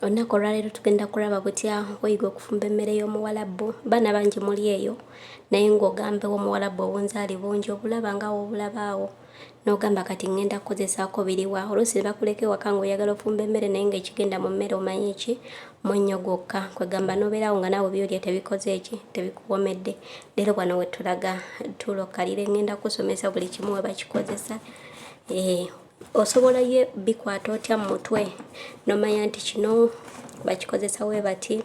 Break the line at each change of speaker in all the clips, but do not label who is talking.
olunaku olwaleero tugenda kulaba butya weyiga okufumba emmere y'omuwalabbu baana bangi muli eyo naye ng'ogambewo omuwalabbu obunzaali bungi obulaba nga wobulabaawo n'ogamba kati ŋŋenda kukozesaako biriwa oluusi ne bakuleka ewaka ng'oyagala ofumba emmere naye ng'ekigenda mu mmere omanyi ki munnyo gwokka kwegamba n'obeerawo nga naawe byolya tebikoze eki tebikuwomedde leero wano we tulaga tuula okkalire ŋŋenda kusomesa buli kimu we bakikozesa eh, osobola ye bikwata otya mu mutwe nomanya nti kino bakikozesa we bati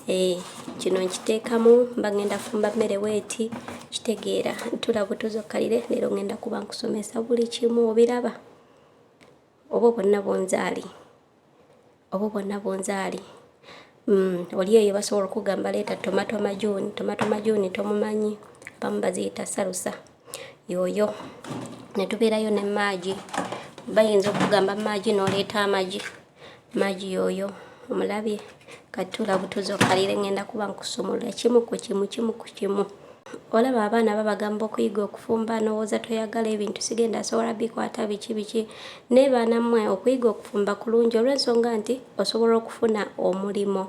Eh, kino nkiteekamu mba ngenda fumba mmere weeti kitegeera ntula butuzi okkalire leero ngenda kuba nkusomesa buli kimu obiraba oba bonna bunzaali oba bonna bunzaali mm, oli eyo basobola okugamba leeta tomato majuni tomato majuni tomumanyi abamu baziyita salusa yooyo ne tubeerayo ne maagi bayinza okugamba maagi n'oleeta amagi Magi yoyo omulabye katula butuzo kalire ngenda kuba nkusumulula kimu ku kimu kimu ku kimu olaba abaana babagamba okuyiga okufumba nowooza toyagala ebintu sigenda asobola bikwata biki biki naye baana mmwe okuyiga okufumba kulungi olw'ensonga nti osobola okufuna omulimu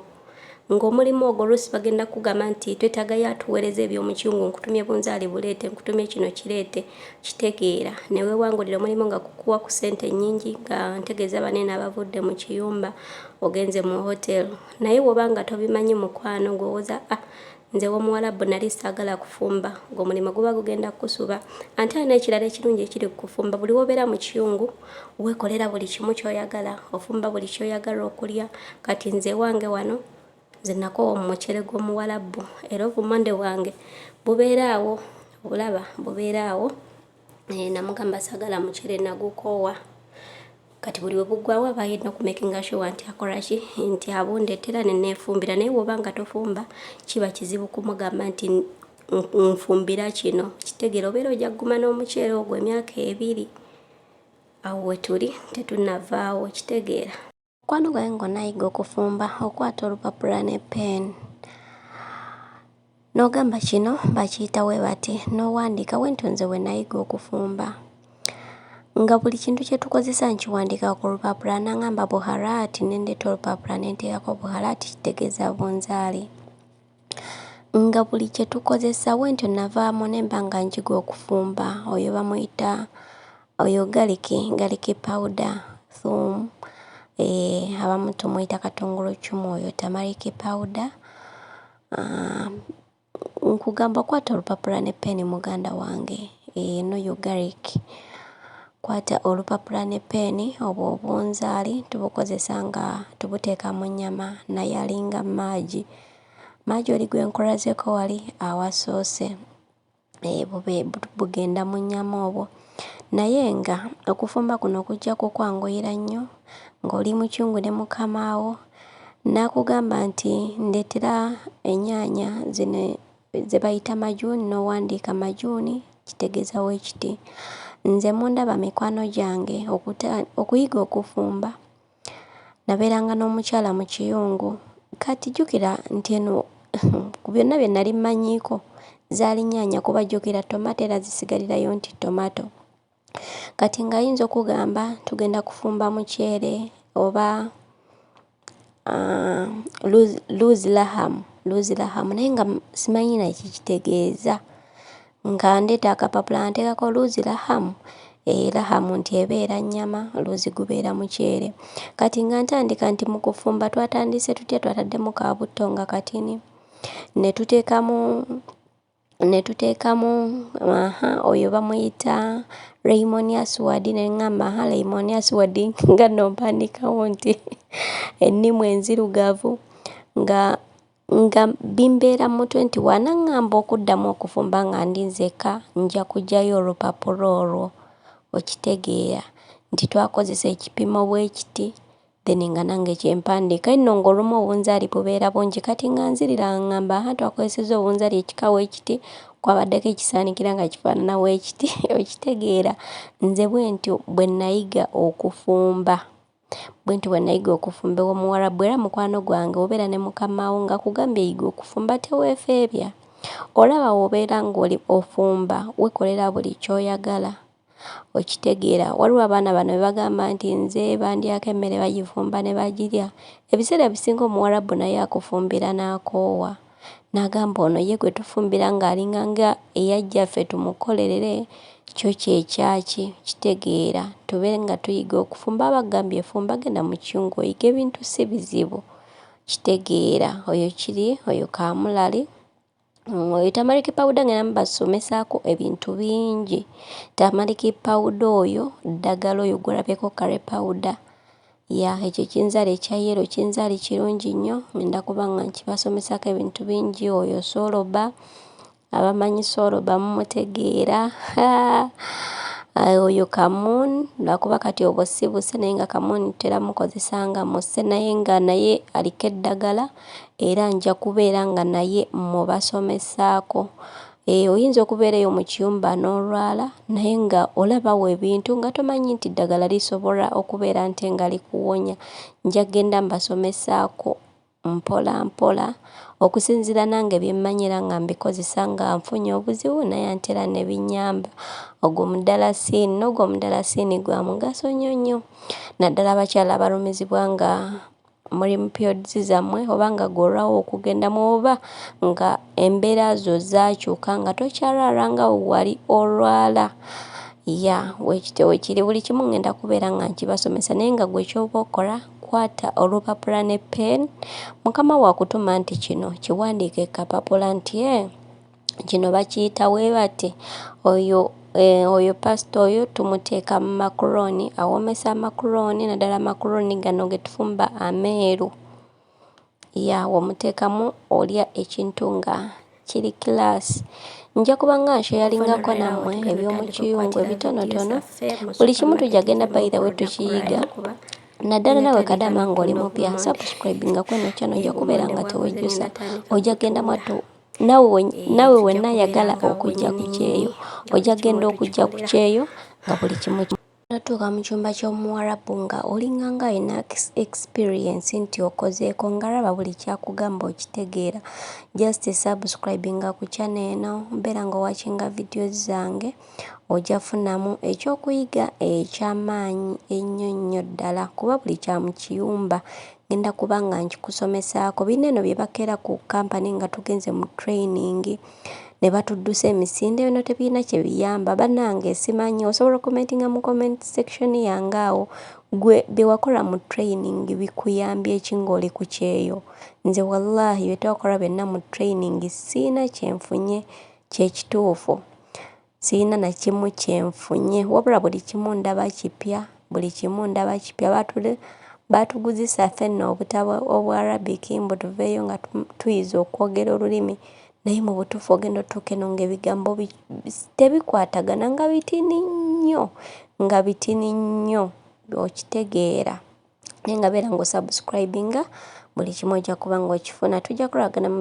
ng'omulimu ogwo oluusi bagenda kugamba nti twetagayo atuweereza ebyomukyungu nkutumye bunzaali buleete nkutumye kino kireete kitegeera ne weewangulira omulimu nga kukuwa ku ssente nnyingi nga ntegeeza baneeno abavudde mu kiyumba ogenze mu hotel naye woba nga tobimanyi mukwano gwowoza ah, Nze w'omuwalabu nali saagala kufumba ng'omulimu guba gugenda kukusuba ante alina ekirala ekirungi ekiri ku kufumba buli wobeera mu kiyungu weekolera buli kimu ky'oyagala ofumba buli ky'oyagala okulya kati nze ewange wano nze nakoowa omucere gw'omuwalabu era obumonde bwange bubeera awo obulaba bubeera awo eh, namugamba sagala mucere nagukoowa kati buli webugwawo aba yedna okumakinga sure nti akoraki nti abundetera nenefumbira naye woba nga tofumba kiba kizibu kumugamba nti nfumbira kino kitegera obeera ojja kuguma n'omuceere ogwo emyaka ebiri awo wetuli tetunavaawo kitegeera Mukwano gwange ng'onayigga okufumba okwata olupapula ne pen n'ogamba kino bakiyita we bati n'owandiika bwentyo nze bwe nayiga okufumba nga buli kintu kye tukozesa nkiwandiika ku lupapula nangamba buharaati ne ndeeta olupapula ne nteekako buharaati kitegeeza bunzaali. Nga buli kye tukozesa bwentyo navaamu ne mba nga njiga okufumba oyo bamuyita oyo garlic garlic powder thum abamu tumuyita katongoloccumu oyo tamariki powder nkugamba kwata olupapula ne ppeeni muganda wange n'oyo garlic kwata olupapula ne ppeeni obwo obunzaali tubukozesa nga tubuteeka mu nnyama naye alinga magi. Majoli gwe nkulazeko wali awasoose eh, bugenda mu nnyama obwo naye nga okufumba kuno kujja kukwanguyira nnyo ng'oli mukyungu ne mukamaawo n'akugamba nti ndeetera ennyaanya zino ze bayita majuuni n'owandiika majuuni kitegeeza we kiti nze mundaba mikwano gyange okuyiga okufumba nabeeranga n'omukyala mu kiyungu. Kati jjukira nti eno ku byonna bye nali mmanyiiko zaali nnyaanya kuba jjukira tomato era zisigalirayo nti tomato. Kati ng'ayinza okugamba tugenda kufumba muceere oba ah, luzi lahamu luzi lahamu naye nga simanyi na kye kitegeeza. Nga ndeeta akapapula nga nteekako luuzi lahamu, eh, lahamu nti ebeera nnyama, luuzi gubeera muceere. Kati nga ntandika nti mu kufumba twatandise tutya, twataddemu ka butto nga katini, ne tuteekamu, ne tuteekamu, aha, oyo bamuyita Raymonius Ward, ne ŋŋamba, aha, Raymonius Ward, nga nno mpandiikawo nti ennimu enzirugavu, nga. Nga bimbeera mu 21 n'aŋŋamba okuddamu okufumba nga ndi nzekka nja kuggyayo olupapula olwo, okitegeera, nti twakozesa ekipimo bwe kiti, then nga nange kye mpandiika. Eno ng'olumu obunzaali bubeera bungi, kati nga nzirira nga ŋŋamba, Aha, twakozesezza obunzaali ekika bwe kiti, kwabaddeko ekisaanikira nga kifaanana bwe kiti. Okitegeera? Nze bwentyo bwe nnayiga okufumba. Bwentyo bwenayiga okufumba ewomuwarabu era mukwano gwange wobeera ne mukamawo ngakugambye yiga okufumba tewefeebya olaba wobeera ngoli ofumba wekolera buli kyoyagala okitegeera waliwo abaana bano bebagamba nti nze bandyako emmere bagifumba nebagirya ebiseera ebisinga omuwarabu naye akufumbira nakoowa. N'agamba, Ono ye gwe tufumbira ng'alinganga eyajja ffe tumukolerere, kyo kye kyaki, kitegeera, tube nga tuyiga okufumba. Aba akugambye fumba, genda mu kiyungu oyige ebintu, si bizibu. Kitegeera, oyo kiri, oyo kaamulali. Mm, oyo tamaliki pawuda ng'enda mubasomesaako ebintu bingi. Tamaliki pawuda oyo, ddagala oyo gw'olabyeko kare pawuda. Ya ekyo ekinzali ekya yellow kinzali kirungi nnyo ngenda kuba nga nkibasomesako ebintu bingi oyo soloba abamanyi soloba mumutegeera oyo kamun lwakuba kati obwo sibuse naye nga kamun tera mukozesa nga muse naye nga naye aliko eddagala era nja kubeera nga naye mubasomesaako Eeh oyinza okubeera eyo mu kiyumba n'olwala naye nga olabawo ebintu nga tomanyi nti ddagala lisobola okubeera nte nga likuwonya. Nja ggenda mbasomesaako mpola mpola okusinziira nange bye mmanyi era nga mbikozesa nga nfunye obuzibu naye ante era ne binnyamba. Ogwo mudalasiini n'ogwo omudalasiini gwa mugaso nnyo nnyo naddala abakyala abalumizibwa nga muli mu periods zammwe oba nga gwe olwawo okugendamu oba nga embeera zo zaakyuka nga tokyalwala nga wali olwala ya wekityo wekiri buli kimu ngenda kubeera nga nkibasomesa naye nga gwe kyoba okola kwata olupapula ne pen mukama wakutuma nti kino kiwandiike kapapula nti e kino bakiyita weebate oyo eh, oyo pasita oyo tumuteeka mu makuroni awoomesa amakuroni naddala amakuroni gano getufumba ameeru ya womuteekamu olya ekintu nga kiri kilaasi nja kuba nga nsheyaringako nammwe eby'omukiyungu ebitonotono buli kimu tujja genda bayira we tukiyiga naddala nawe kadama ng'oli mupya subscribinga kweno kyano ojja kubeera nga tewejjusa ojja genda mwattu nawe wenna ayagala okujja ku kyeyo ojja kugenda okujja ku kyeyo nga buli kimu natuuka mu kyumba ky'omuwarabu nga olinga nga alina experience nti okozeeko ngaraba buli kyakugamba okitegeera just subscribinga ku channel eno mbeera nga owakinga videos zange Ojja funamu ekyokuyiga ekya maanyi ennyo nnyo ddala kuba buli kya mu kiyumba ngenda kuba nga nkikusomesaako. Binno eno bye bakeera ku kampani nga tugenze mu training ne batuddusa emisinde bino tebirina kye biyamba bannange simanyi osobola okumentinga mu comment section yange awo gwe bye wakola mu training bikuyambye ki ng'oli ku kyeyo nze wallahi bye twakola byonna mu training sirina kye nfunye Kyekituufu sirina nakimu kyenfunye wabula buli kimu ndaba kipya buli kimu ndaba kipya batule batuguzisa fenna obutabo obwa Arabic mbu tuveeyo nga tuyize okwogera olulimi naye mu butuufu ogenda otuuka eno ng'ebigambo tebikwatagana nga bitini nnyo nga bitini nnyo okitegeera naye nga beera ng'osubscribinga buli kimu ojja kuba ng'okifuna tujja kulabagana mu.